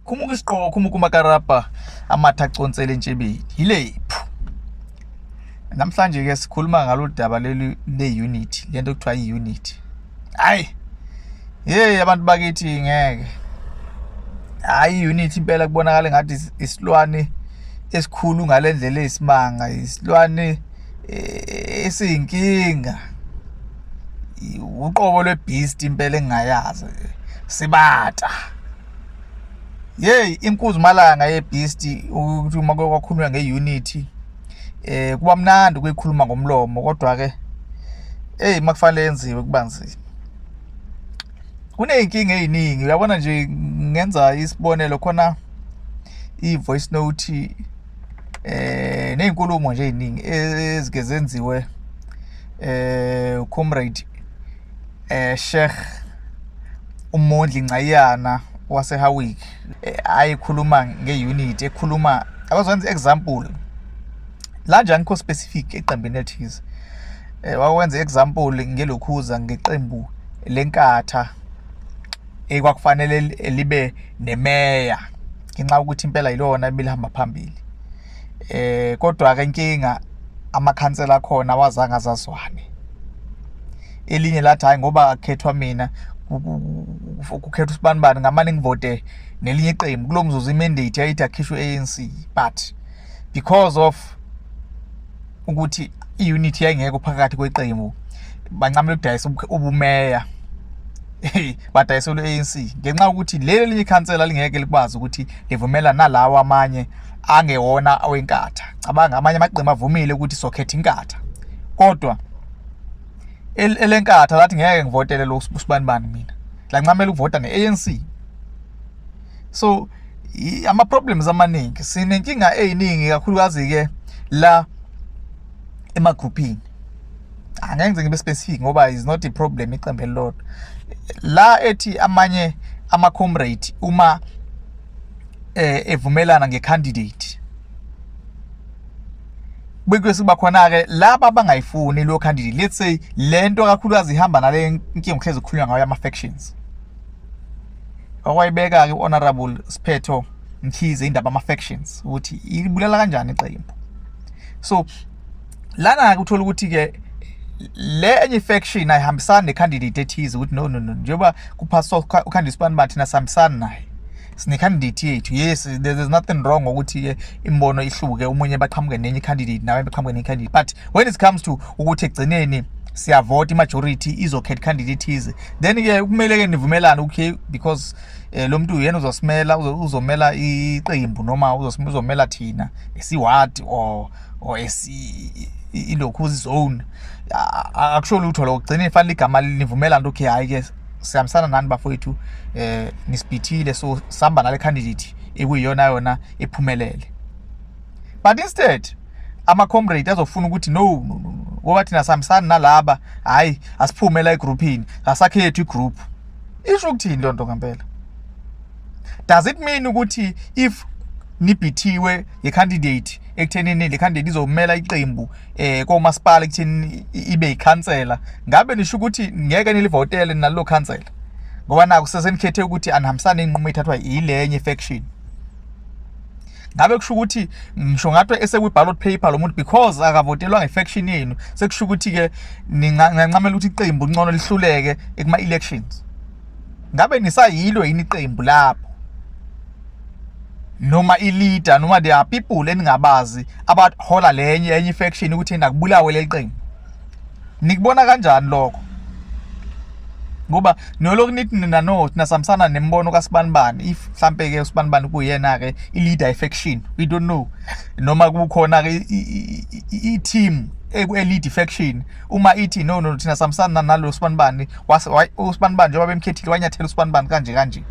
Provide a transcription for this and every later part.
khumuka isiqoko khumuka umakarabha amatha aconsele entshebeni yilephu namhlanje ke sikhuluma ngalolu daba leli le-unit le nto kuthiwa i-unit hhayi yeyi abantu bakithi ngeke hhayi i-unit impela kubonakala ngathi isilwane esikhulu ngale ndlela eyisimanga isilwane eh, esiyinkinga uqobo lwebeast impela engingayazi sibata yeyi inkuzumalanga yebeast ukuthi uma kwakhulunywa nge-unity eh kuba mnandi ukuyikhuluma ngomlomo kodwa ke hey makufanele yenziwe kuba nzima kuneyinkinga eziningi uyabona nje ngenza isibonelo khona i voice note eh nezinkulumo nje eziningi ezike zenziwe eh comrade eh Sheikh uMondli Ncayana waseHawick eh, ayikhuluma ngeunit ekhuluma abazwenza example la nje angikho specific eqembini elithize eh wawenza example ngelokhuza ngeqembu lenkatha ekwakufanele libe nemeya ngenxa yokuthi impela yilona ebilihamba phambili eh kodwa ke inkinga amakhansela akhona awazange azazwane elinye lathi hayi ngoba akhethwa mina kukhethwa usibanibani ngamane ngivote nelinye iqembu kulomzuzu imandate yayithi akhishwe ANC but because of ukuthi i-unit yayingekho phakathi kweqembu bancamela ukudayisa ubumeya badayiselwe ANC ngenxa ukuthi leli linye ikhansela lingeke likwazi ukuthi livumela nalawa amanye angewona awenkatha cabanga amanye amaqembu avumile ukuthi sokhetha inkatha kodwa elenkatha lathi ngeke ngivotele lo usibanibani mina lancamela ukuvota ne-ANC so ama problems amaningi sinenkinga eziningi kakhulukazi ke la emagruphini angeke ngize ngibe specific ngoba is not a problem iqembu elilodwa la ethi amanye ama comrade uma eh evumelana ngecandidate bekuye siba khona ke laba abangayifuni lo candidate let's say lento kakhulukazi ihamba nale inkinga uhlezi ukukhulunywa ngayo ama factions okwayibeka-ke u-honorable siphetho mkhize indaba ama-factions ukuthi ibulala kanjani iqembu so lana-ke uthola ukuthi-ke le enye faction ayihambisani necandidate ethize ukuthi no no no njengoba kuphaswa ukhanda isibani bathina sihambisani naye sinecandidate yethu yes there is nothing wrong ngokuthi-ke imibono ihluke omunye baqhamuke nenye icandidate nawe baqhamuke nenye icandidate but when it comes to ukuthi ekugcineni siyavota imajority izokhetha candidate ize then ke kumele ke nivumelane okay because eh, lo muntu uyena uzosimela uzomela iqembu noma uzomela thina esiward or or esi ilokhu zone akusho lutho lokugcina ifanele igama linivumela nto okay hayi ke sihambisana nani bafowethu eh nisibhithile so sihamba nale candidate ekuyiyona yona ephumelele but instead ama comrade azofuna ukuthi no no no ngoba thina sihambisana nalaba hayi asiphume la egroupini asakhethu igroup isho ukuthini loo nto ngempela does it mean ukuthi if nibhithiwe ye candidate ekuthenini le candidate izomela iqembu eh komasipala kuthini ibe yikhansela ngabe nisho ukuthi ngeke nilivotele nalo khansela ngoba naku sesenikhethe ukuthi anihambisane inqumo ithathwa yilenye faction ngabe kusho ukuthi ngisho ngathi esekwi ballot paper lo muntu because akavotelwa ngefaction yenu sekusho ukuthi ke ningancamela ukuthi iqembu ncono lihluleke ekuma elections ngabe nisayilo yini iqembu lapho noma i-leader noma there are people eningabazi abahola lenye enye faction ukuthi nakubulawe leli qembu nikubona kanjani lokho ngoba noloku nithi nina no thina samsana nembono kasibanibani if mhlampe ke usibanibani kuyena ke i-leader faction we don't know noma kukhona ke i-team eku-elite faction uma ithi no no thina samsana nalo usibanibani usibanibani njengoba bemkhethile wanyathela usibanibani kanje kanje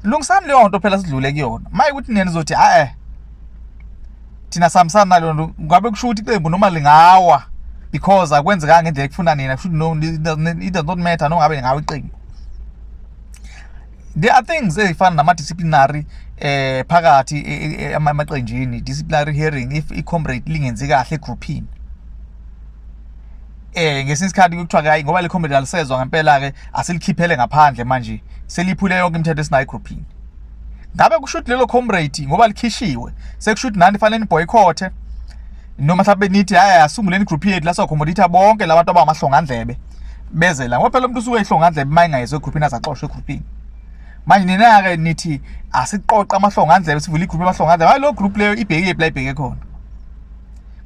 lungisani leyo nto phela sidlule kuyona maye ukuthi nina nizothi a-e eh, thina sihambisana naleyo nto ngabe kusho ukuthi iqembu noma lingawa because akwenzekanga ngendlela ekufuna nina kusho ukuthi no it does not matter nongabe lingawa iqembu there are things ezifana nama-disciplinary eh phakathi amaqenjini disciplinary hearing if i-comrade lingenzi kahle egrouphini eh ngesinye isikhathi kuthiwa ke hayi ngoba le comedy alisezwa ngempela ke asilikhiphele ngaphandle manje seliphule yonke imithetho esinayo groupini ngabe kusho ukuthi lelo comrade ngoba likhishiwe sekusho ukuthi nani fanele niboycothe noma mhlawumbe nithi hayi asunguleni group yethu la socommodate bonke labantu abamahlongandlebe beze la ngoba phela umuntu usuke ehlongandlebe uma engayezwe egroupini azaxoshwe egroupini manje nina-ke nithi asiqoqe amahlongandlebe sivule igroup yamahlongandlebe hayi lo group leyo ibhekile pla ibheke khona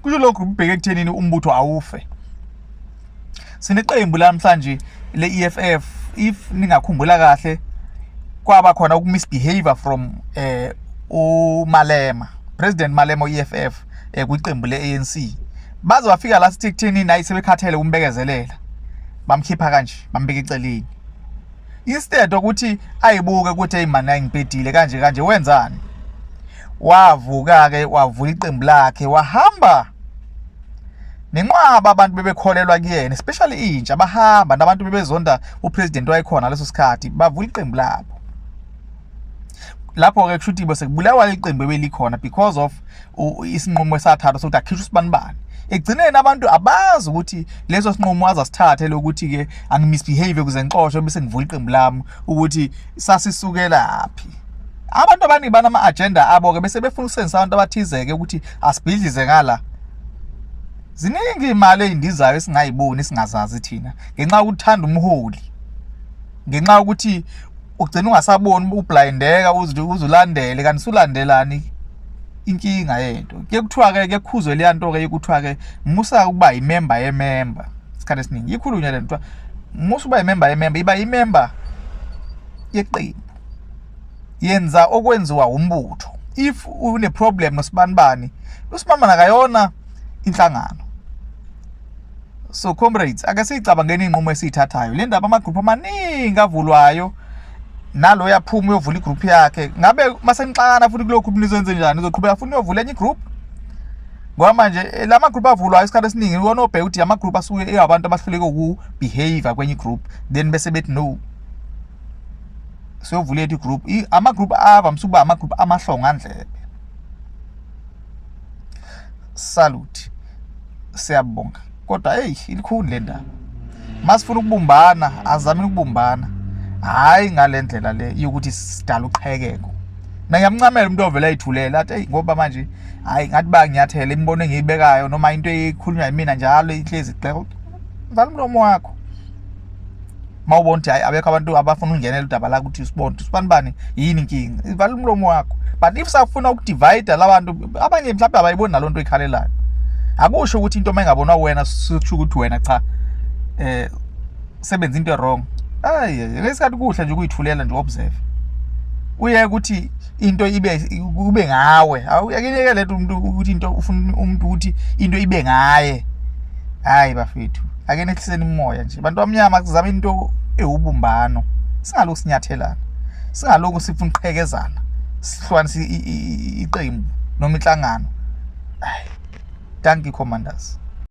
kusho lokhu kubheke ekuthenini umbutho awufe sineqembu lamhlanje le-EFF if ningakhumbula kahle kwaba khona ukumisbehavior from eh uMalema President Malema e-EFF eh, kwiqembu le-ANC baze bafika la sithi kutheni nayi sebekhathele umbekezelela bamkhipha kanje bambeka iceleni instead ukuthi ayibuke ukuthi hey man ayingibhedile kanje kanje wenzani wavuka-ke wavula iqembu lakhe wahamba nenqwaba abantu bebekholelwa kuyena especially intsha bahamba nabantu bebezonda upresident wayekhona leso sikhathi bavula iqembu labo lapho-ke kusho ukuthi sekubulawa iqembu ebelikhona because of isinqumo esathathwa sokuthi akhishwe usibanibani ekugcineni abantu abazi ukuthi leso sinqumo azasithathe lokuthi-ke angimisbehave kuze ngixoshwe bese ngivula iqembu lami ukuthi sasisukela phi abantu abaningi banama agenda abo ke bese befuna ukusenzisa abantu abathizeke ukuthi asibhidlize ngala ziningi imali ezindizayo esingayiboni singazazi thina ngenxa ukuthanda umholi ngenxa ukuthi ugcina ungasaboni ublindeka uzulandele kanti sulandelani inkinga yento ke kuthiwa ke kekhuzo leyanto ke ikuthiwa ke musa ukuba yimember yemember isikhathi esiningi ikhulunywa lento musa uba yimember yemember iba yimember yeqembu yenza okwenziwa umbutho if une problem nosibanibani usimama nakayona inhlangano so comrades ake siyicabangeni inqumo esiyithathayo le ndaba amagroup amaningi avulwayo nalo yaphuma uyovula igroup yakhe ngabe masenixakana futhi kulokhu nizenze njani uzoqhubeka futhi uyovula enye igroup ngoba manje eh, la magroup avulwayo isikhathi esiningi iwona obheka ukuthi amagroup asuke eyabantu abahluleke ukubehavior kwenye igroup then bese bethi no siyovula ethi group ama group ava msuba ama group amahlonga ndlebe salute siyabonga kodwa hey ilikhulu le ndaba masifuna ukubumbana azame ukubumbana hayi ngalendlela le yokuthi sidala uqhekeko mina ngiyamncamela umuntu ovela ayithulela athi hey ngoba manje hayi ngathi ba ngiyathela imibono engiyibekayo noma into ekhulunywa yimina njalo ihlezi gxeka vala umlomo wakho uma ubona ukuthi hayi abekho abantu abafuna ukungenela udaba la ukuthi usibona ukuthi usibani bani yini inkinga ivala umlomo wakho but if safuna ukudivide labantu abanye mhlawumbe abayiboni naloo nto ikhalelayo akusho ukuthi into uma ingabonwa wena sisho ukuthi wena cha eh sebenza into wrong ayi ngesikhathi kuhle nje ukuyithulela nje observe uye ukuthi into ibe kube ngawe awuyakuyeke lethu umuntu ukuthi into ufuna umuntu ukuthi into ibe ngaye hayi bafethu ake nehliseni umoya nje bantu bamnyama kuzama into ewubumbano singalokhu sinyathelana singalokhu sifuna uqhekezana sihlukanisa iqembu noma inhlangano hayi thank you commanders